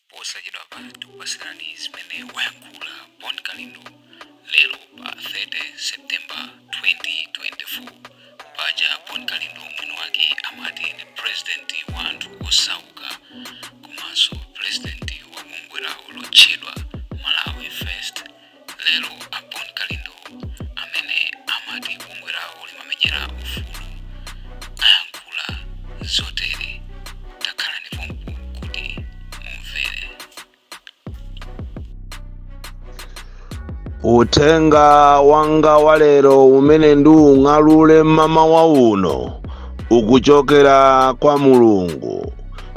posachedwapa tikupasirani zimene wayankhula bon kalindo lero pa 30 september 2024 paja bon kalindo mwini wake amati ndi purezidenti wa anthu osauka komanso purezidenti wa bungwe lawo lotchedwa malawi first Lero a Bon Kalindo amene amati bungwe lawo limamenyera ufulu ayankhula zotere. Takhalani pompo kuti mumvere. Uthenga wanga wa lero umene ndiung'alule mmamawa uno ukuchokera kwa Mulungu.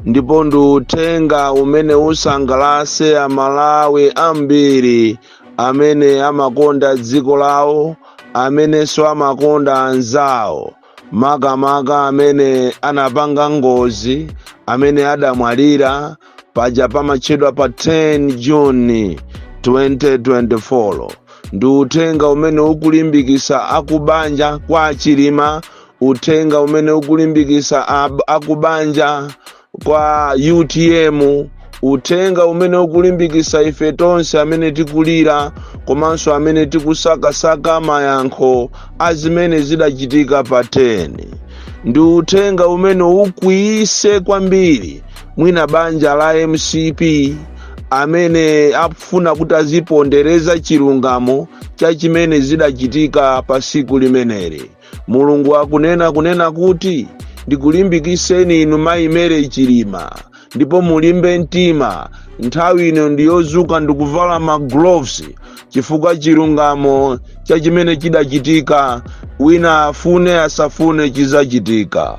ndipo ndi uthenga umene usangalatse amalawi ambiri amene amakonda dziko lawo amenenso amakonda anzawo makamaka amene anapanga ngozi amene adamwalira paja pamatchedwa pa 10 june 2024 ndi uthenga umene ukulimbikitsa akubanja kwa achilima uthenga umene ukulimbikisa akubanja kwa utm uthenga umene ukulimbikisa ife tonse amene tikulira komanso amene tikusakasaka mayankho a zimene zidachitika pa 10 ndi uthenga umene ukwiyise kwambiri mwina banja la mcp amene afuna kuti azipondereza chilungamo cha zimene zidachitika pa siku limeneli mulungu akunena kunena kuti ndikulimbikiseni inu mayi mary chilima ndipo mulimbe mtima nthawi ino ndi yodzuka ndikuvala ma gloves chifukwa chilungamo cha chimene chidachitika wina afune asafune chidzachitika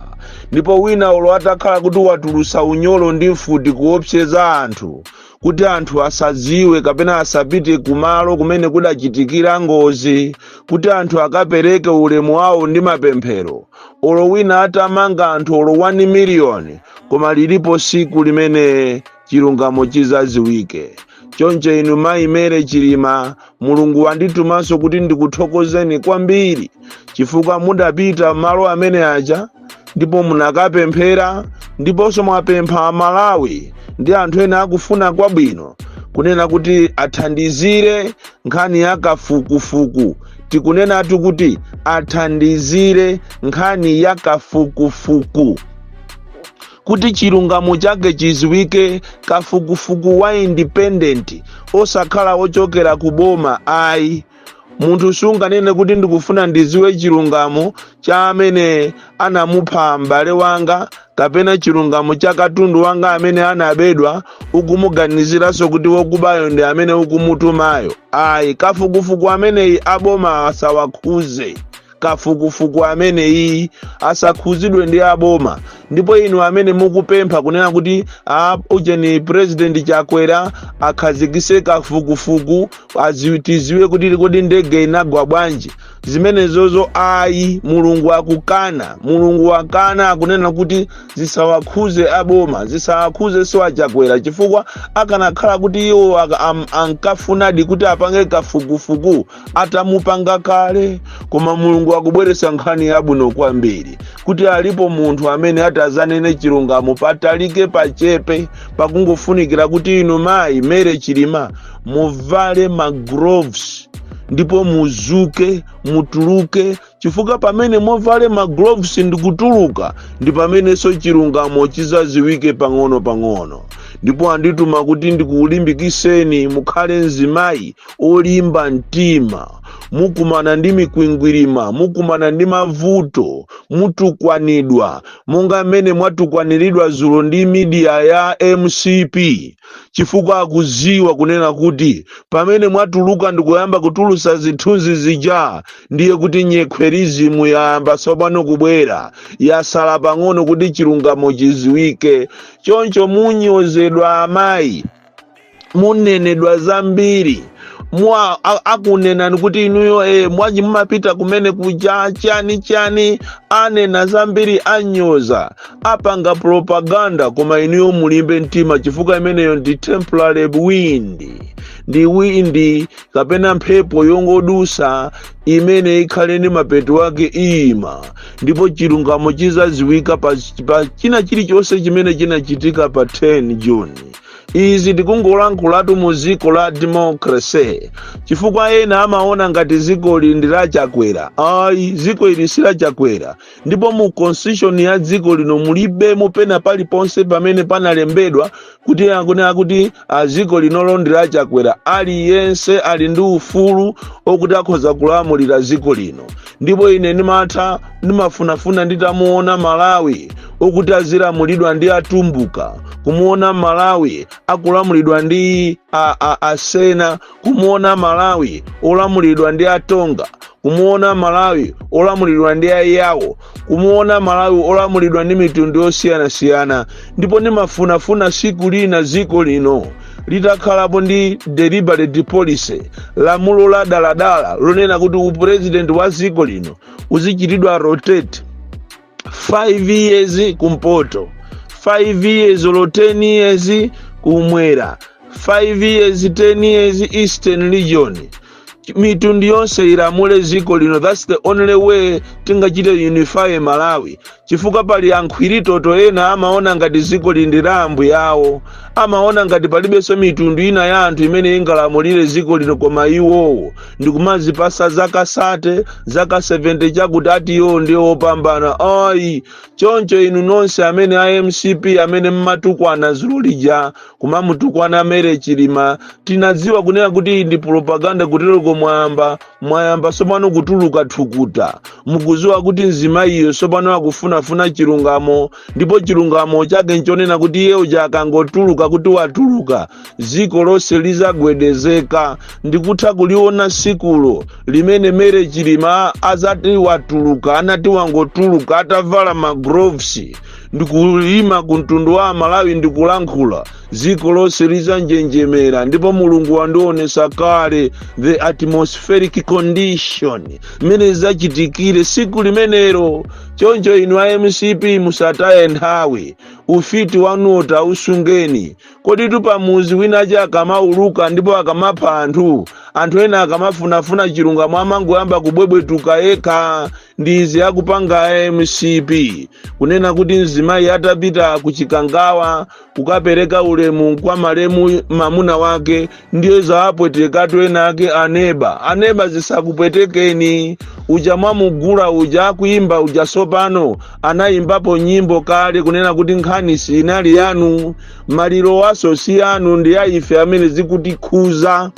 ndipo wina olo atakhala kuti watulusa unyolo ndi mfuti kuopseza anthu kuti anthu asadziwe kapena asapite kumalo kumene kudachitikira ngozi kuti anthu akapereke ulemu wawo ndi mapemphero olo wina atamanga anthu olo 1 miliyoni koma lilipo siku limene chilungamo chidzaziwike choncho inu mayi mary chilima mulungu wanditumanso kuti ndikuthokozeni kwambiri chifukwa mudapita malo amene aja ndipo munakapemphera ndiponso mwapempha amalawi ndi anthu ena akufuna kwabwino kunena kuti athandizire nkhani ya kafukufuku tikunenatu kuti athandizire nkhani ya kafukufuku kuti chilungamo chake chiziwike kafukufuku wa independent osakhala ochokera ku boma ayi munthu sunganene kuti ndikufuna ndiziwe chilungamo cha amene anamupha m'bale wanga kapena chilungamo cha katundu wanga amene anabedwa ukumuganiziranso kuti wokubayo ndi amene ukumutumayo ayi kafukufuku ameneyi aboma asawakhuze kafukufuku ameneyi asakhuzidwe ndi aboma ndipo inu amene mukupempha kunena kuti a ujeni president chakwera akhazikise kafukufuku aziwi- tiziwe kuti kodi ndege inagwa bwanji zimenezozo ayi mulungu akukana mulungu wakana akunena kuti zisawakhuze aboma zisawakhuze siwachakwera chifukwa akanakhala kuti iwo aka- am- ankafunadi kuti apange kafukufuku atamupanga kale koma mulungu akubweretsa nkhani yabwino kwambiri kuti alipo munthu amene atazanene chilungamo patalike pachepe pakungofunikira kuti inu mayi mary chilima muvale magloves ndipo muzuke mutuluke chifukwa pamene muvale magloves ndikutuluka ndi pamenenso chilungamo chizaziwike pang'ono pang'ono ndipo andituma kuti ndikulimbikiseni mukhale mzimayi olimba mtima mukumana ndi mikwingwirima mukumana ndi mavuto mutukwanidwa monga mmene mwatukwaniridwa zulo ndi media ya mcp chifukwa akuziwa kunena kuti pamene mwatuluka ndikuyamba kutulusa zithunzi zija ndiye kuti nyekhwerizimu yayamba tsopano kubwera yasala pang'ono kuti chilungamo chiziwike choncho munyozedwa amayi munenedwa zambiri mwa a- akunenani kuti inuyo e mwaji mumapita kumene kuja chani chani anena zambiri anyoza apanga propaganda koma inuyo mulimbe mtima chifukwa imeneyo ndi temporary wind ndi wind kapena mphepo yongodusa imene ikhale ndi mapeto ake iyima ndipo chilungamo chizaziwika pa, pa china chilichonse chimene chinachitika pa 10 june izi tikungolankhulatu mu dziko la democracy chifukwa ena amaona ngati dzikoli ndi la chakwera ayi dziko ili si la chakwera ndipo mu constitution ya dziko lino mulibemo pena paliponse pamene panalembedwa kuti akunena kuti a dziko linolo ndi la chakwera aliyense ali ndi ufulu okuti akhoza kulamulira dziko lino ndipo ine ndimatha ndimafunafuna nditamuona malawi okuti azilamulidwa ndi atumbuka kumuona malawi akulamulidwa ndi a, a, asena kumuona malawi olamulidwa ndi atonga kumuona malawi olamulidwa ndi ayawo kumuona malawi olamulidwa ndi mitundu yosiyanasiyana ndipo ndimafunafuna siku lina dziko lino litakhalapo ndi deliberate policy lamulo la daladala lonena kuti upurezidenti wa dziko lino uzichitidwa rotate 5 years kumpoto 5 years olo 10 years kumwera 5 years 10 years eastern region mitundu yonse ilamule dziko lino that's the only way tingachite unify malawi chifukwa pali ankhwiritoto ena amaona ngati dziko lino ndi la ambuye awo amaona ngati palibenso mitundu ina ya anthu imene ingalamulire dziko lino koma iwowo ndikumazipasa zaka sate zaka 70 chakuti ati iwo ndiye wopambana ayi choncho inu nonse amene a mcp amene mmatukwana dzulo lija kumamutukwana mary chilima tinadziwa kunena kuti iyi ndi propaganda kutereko mwayamba mwayamba sopano kutuluka thukuta mukuziwa kuti mzimayiyo sopano akufunafuna chilungamo ndipo chilungamo chake nchonena kuti iye uja akangotuluka kuti watuluka dziko lonse lizagwedezeka ndikutha kuliona sikulo limene mary chilima azati watuluka adzati wangotuluka atavala magloves ndikuyima ku mtundu wa amalawi ndikulankhula dziko lonse lizanjenjemera ndipo mulungu wandionesa kale the atmospheric condition mmene zidzachitikire siku limenero choncho inu a mcp musataye nthawi ufiti wanuwo tausungani Koditu pamudzi wina wake akamauluka ndipo akamapha anthu, anthu ena akamafunafuna chilungamo amangoyamba kubwebwetuka yekha ndi izi akupanga mcp kunena kuti mzimayi atapita ku chikangawa kukapereka ulemu kwa malemu mamuna wake ndiye zawapweteka twenatwake aneba aneba zisakupwetekeni uja mwamugula uja wakuimba uja sopano anayimbapo nyimbo kale kunena kuti nkhani sinali yanu malirowanso si anu ndi aife amene zikutikhuza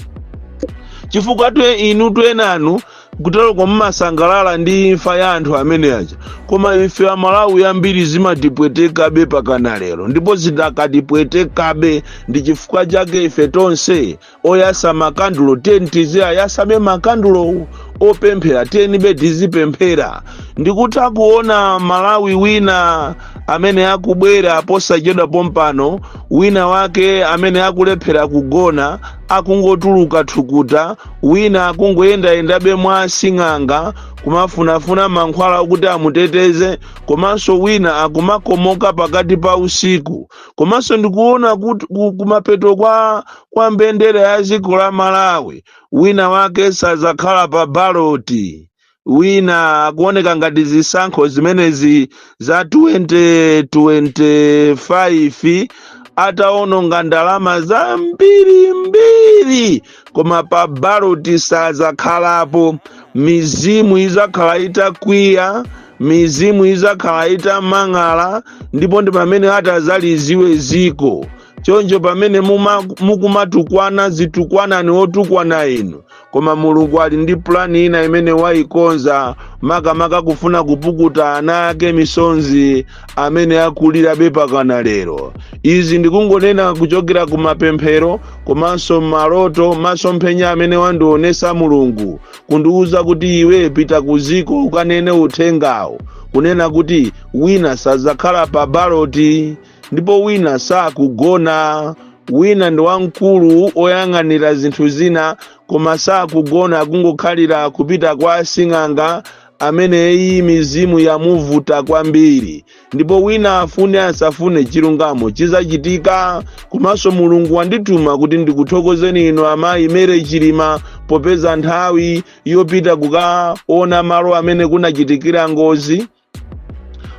chifukwa inu twenanu kutereko mumasangalala ndi imfa ya anthu amene aja koma ife amalawi ambiri zimatipwetekabe pakana lero ndipo zidakatipwetekabe ndi chifukwa chake ife tonse oyasa makandulo tiyeni tiziwayasabe makandulowo opemphera tiyenibe tizipemphera ndikutha kuona malawi wina amene akubwera posachedwa pompano wina wake amene akulephera kugona akungotuluka thukuta wina akungoyendayendabe mwa asing'anga kumafunafuna mankhwala okuti amuteteze komanso wina akumakomoka pakati pa usiku komanso ndikuona kuti ku- kumapeto kwa, kwa mbendera ya dziko la malawi wina wake sadzakhala pa baloti wina akuoneka ngati zisankho zimenezi za 2025 ataononga ndalama zambiri mbiri koma pa baloti sazakhalapo mizimu izakhala itakwiya mizimu izakhala itamang'ala ndipo ndi pamene atazaziwe ziko choncho pamene muma- mukumatukwana zitukwanani otukwana inu koma mulungu ali ndi pulani ina imene wayikonza makamaka kufuna kupukuta ana ake misonzi amene akulirabe pakana lero izi ndikungonena kuchokera ku mapemphero komanso maloto masomphenya amene wandionesa mulungu kundiwuza kuti iwe pita ku ziko ukanene uthengawo kunena kuti wina sadzakhala pa baloti ndipo wina sakugona wina ndi wamkulu oyang'anira zinthu zina koma sakugona akungokhalira kupita kwa asing'anga amene iyi mizimu yamuvuta kwambiri ndipo wina afune asafune chilungamo chizachitika komanso mulungu wandituma kuti ndikuthokozeni inu amayi mary chilima popeza nthawi yopita kukaona malo amene kunachitikira ngozi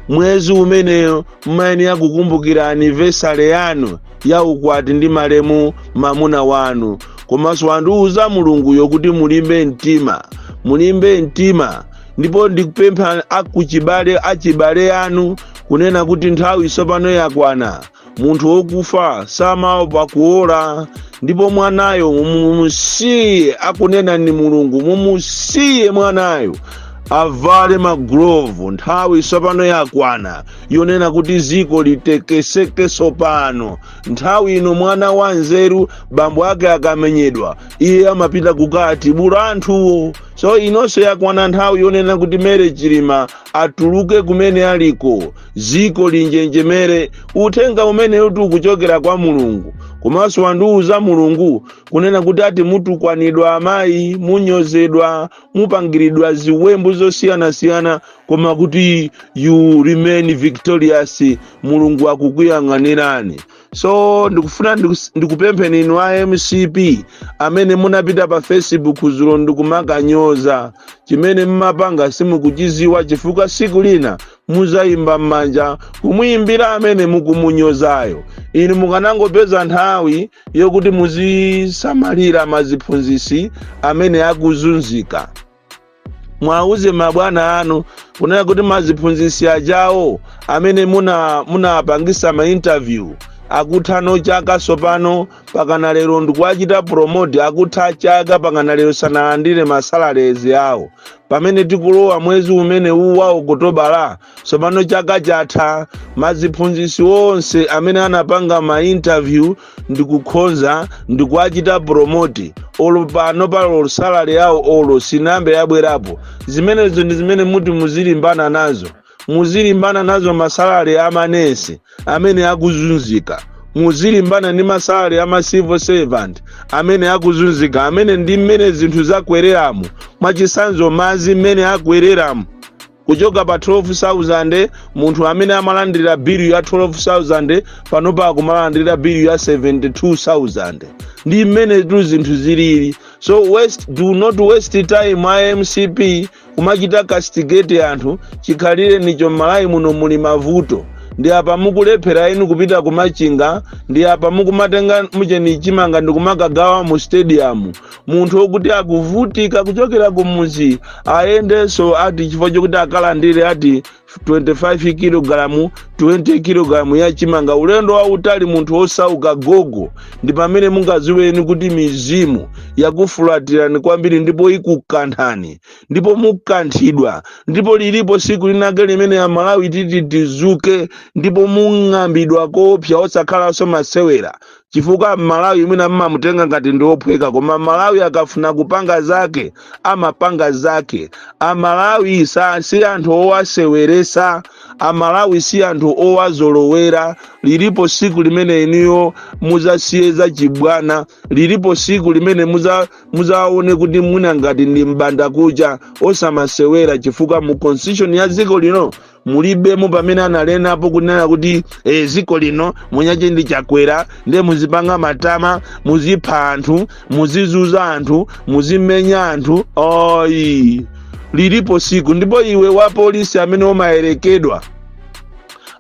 mwezi umeneyo mmayenera kukumbukira anniversary yanu ya ukwati ndi malemu mamuna wanu komanso wandiuza mulunguyo kuti mulimbe mtima mulimbe mtima ndipo ndikupempha akuchibale achibale anu kunena kuti nthawi tsopano yakwana munthu wokufa samaopa kuola ndipo mwanayo mumusiye akunena ni mulungu mumusiye mwanayo avale magulovu nthawi tsopano yakwana yonena kuti ziko litekeseke tsopano nthawi ino mwana wa nzeru bambo ake akamenyedwa iye amapita kukatibula anthuwo so inonso yakwana nthawi yonena kuti mary chilima atuluke kumene aliko ziko linjenjemere uthenga umenewutu ukuchokera kwa mulungu komanso wandiwuza mulungu kunena kuti ati mutukwanidwa amayi munyozedwa mupangiridwa ziwembu zosiyanasiyana koma kuti you remain victorious mulungu akukuyang'anirani so ndikufuna ndikus- ndikupempheni inu a mcp amene munapita pa facebook zulo ndikumakanyoza chimene mmapanga simukuchiziwa chifukwa siku lina muzayimba m'manja kumuyimbira amene mukumunyozayo inu mukanangopeza nthawi yokuti muzisamalira maziphunzisi amene akuzunzika mwauze mabwana anu kunena kuti maziphunzisi ajawo amene muna munapangisa ma interview akutha chaka sopano pakana lero ndikuwachita promote akutha chaka pakana lero sanalandire ma salaries awo pamene tikulowa mwezi umene uwu wa okotobala tsopano chaka chatha maziphunzitsi onse amene anapanga ma interview ndikukhoza ndikuwachita promote olo pano paja salary yawo olo sinambe yabwerapo zimenezo ndi zimene muti muzilimbana nazo muzilimbana nazo masalari a manesi amene akuzunzika muzilimbana ndi masalari a ma civil servant amene akuzunzika amene ndi mmene zinthu zakwereramu mwachisanzo mazi mmene akwereramu kuchoka pa 12000 munthu amene amalandira bilu ya 12000 panopa akumalandira bilu ya 72000 ndi mmene tu zinthu zilili so do not waste time a mcp kumachita castigate anthu chikhalirenicho m'malawi muno muli mavuto ndi apa mukulephera inu kupita kumachinga ndi apa mukumatenga mucheni chimanga ndi kumakagawa mu stadium munthu wokuti akuvutika kuchokera kumudzi ayendenso ati chifukwa chokuti akalandire ati 25 kilogalamu 20 kilogalamu ya chimanga ulendo wautali munthu wosauka gogo ndi pamene mungaziweni kuti mizimu yakufulatirani kwambiri ndipo ikukanthani ndipo mukanthidwa ndipo lilipo siku linake limene amalawi titi tizuke ndipo mung'ambidwa koopsa osakhalanso masewera chifukwa mmalawi mwina mmamutenga ngati ndi ophweka koma mmalawi akafuna kupanga zake amapanga zake amalawi sa si anthu owaseweresa amalawi si anthu owazolowera lilipo siku limene inuyo muzasiye za chibwana lilipo siku limene muza- muzaone kuti mwina ngati ndi mbanda kucha osamasewera chifukwa mu constitution ya dziko lino mulibemo pamene analenapo kunena kuti e, ziko lino mwini wake ndi chakwera ndiye muzipanga matama muzipha anthu muzizunza anthu muzimenya anthu ayi lilipo siku ndipo iwe wa polisi amene umayerekedwa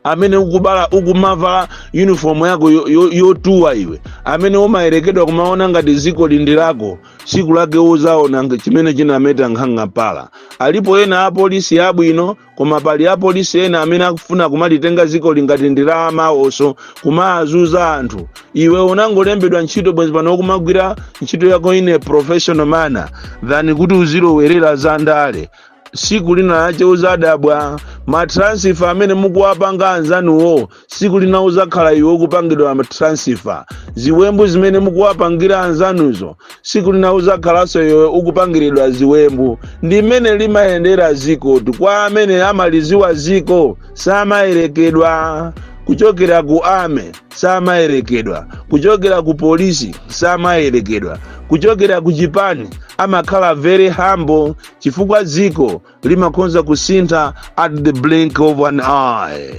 amene ukubala ukumavala uniform yako yotuwa yo, yo iwe amene umayerekedwa kumaona ngati ziko ili ndi lako tsiku lake uzaona nge- chimene chinameta nkhanga mpala alipo ena apolisi abwino koma pali apolisi ena amene akufuna kumalitenga dziko lingati ndi la amawoso kumazunza anthu iwe unangolembedwa ntchito bwenzi pano kumagwira ntchito yako in a professional manner than kuti uzilowerera za ndale siku lina lake uzadabwa matransifa amene mukuwapanga anzanuwo tsiku lina uzakhala iwe ukupangidwa matransifa ziwembu zimene mukuwapangira anzanuzo tsiku lina uzakhalanso iwe ukupangiridwa ziwembu ndi mmene limayendera zikotu kwa amene amaliziwa ziko samayerekedwa kuchokera ku army samayerekedwa kuchokera ku polisi samayerekedwa kuchokera ku chipani amakhala very humble chifukwa dziko limakonza kusintha at the blink of an eye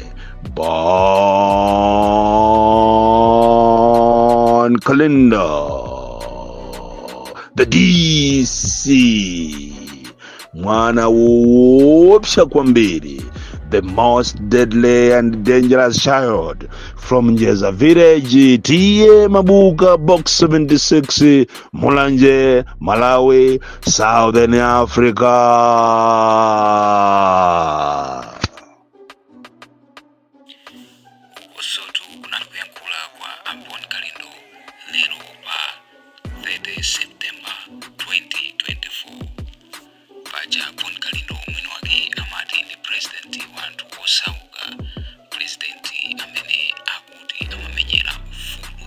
Bon Kalindo the dc mwana woopsa kwambiri the most deadly and dangerous child from njeza village T/A Mabuka box 76 mulanje malawi Southern Africa. Ukotu kunali kuyankhula kwa a Bon Kalindo lero pa 30 septemba 2024 paja a Bon kalindo mwini wake amati ndi purezidenti wa anthu osauka purezidenti amene akuti amamenyera ufulu